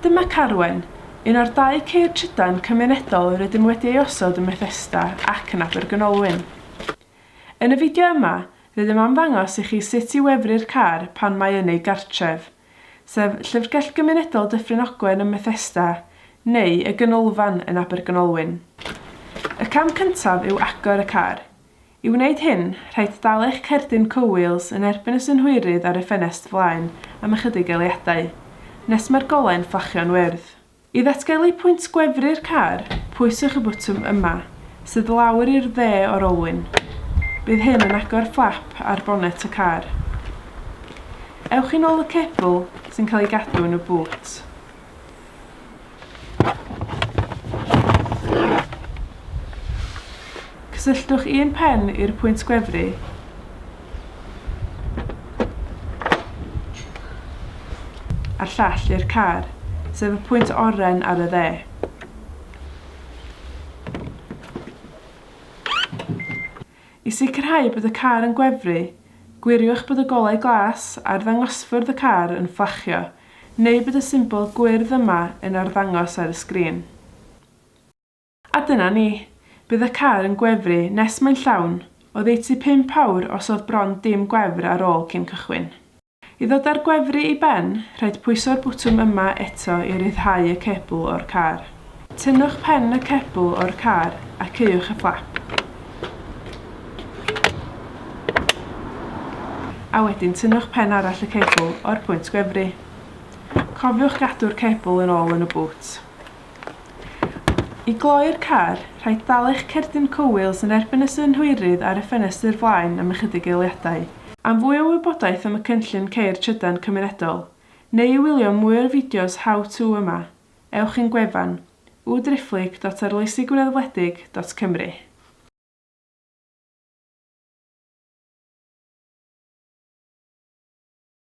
Dyma Carwen, un o'r dau ceir trydan cymunedol rydym wedi ei osod ym Methesda ac yn Abergynolwyn. Yn y fideo yma, rydym am ddangos i chi sut i wefru'r car pan mae yn ei gartref, sef Llyfrgell Gymunedol Dyffryn Ogwen ym Methesda, neu y Ganolfan yn Abergynolwyn. Y cam cyntaf yw agor y car. I wneud hyn, rhaid dal eich cerdyn cowheels yn erbyn y synhwyrydd ar y ffenest flaen am ychydig eliadau, nes mae'r golau'n fflachio'n wyrdd. I ddatgelu pwynt gwefru'r car, pwyswch y botwm yma, sydd lawr i'r dde o'r olwyn. Bydd hyn yn agor fflap ar bonet y car. Ewch yn ôl y cebl sy'n cael ei gadw yn y bŵt. Cysylltwch un pen i'r pwynt gwefru. a'r llall i'r car, sef y pwynt oren ar y dde. I sicrhau bod y car yn gwefru, gwiriwch bod y golau glas ar ddangosfwrdd y car yn fflachio Neu bod y symbol gwyrdd yma yn arddangos ar y sgrin. A dyna ni. Bydd y car yn gwefru nes mae'n llawn, oddeutu pump awr os oedd bron dim gwefr ar ôl cyn cychwyn. I ddod â'r gwefru i ben, rhaid pwyso'r bwtwm yma eto i ryddhau y cebl o'r car. Tynnwch pen y cebl o'r car a caewch y fflap. A wedyn tynnwch pen arall y cebl o'r pwynt gwefru. Cofiwch gadw'r cebl yn ôl yn y bŵt. I gloi'r car, rhaid dal eich cerdyn cowils yn erbyn y synhwyrydd ar y ffenestr flaen am ychydig eiliadau. Am fwy o wybodaeth am y cynllun Ceir Trydan Cymunedol, neu i wylio mwy o'r fideos How To yma, ewch i'n gwefan, www.arloesigwreddfwledig.cymru.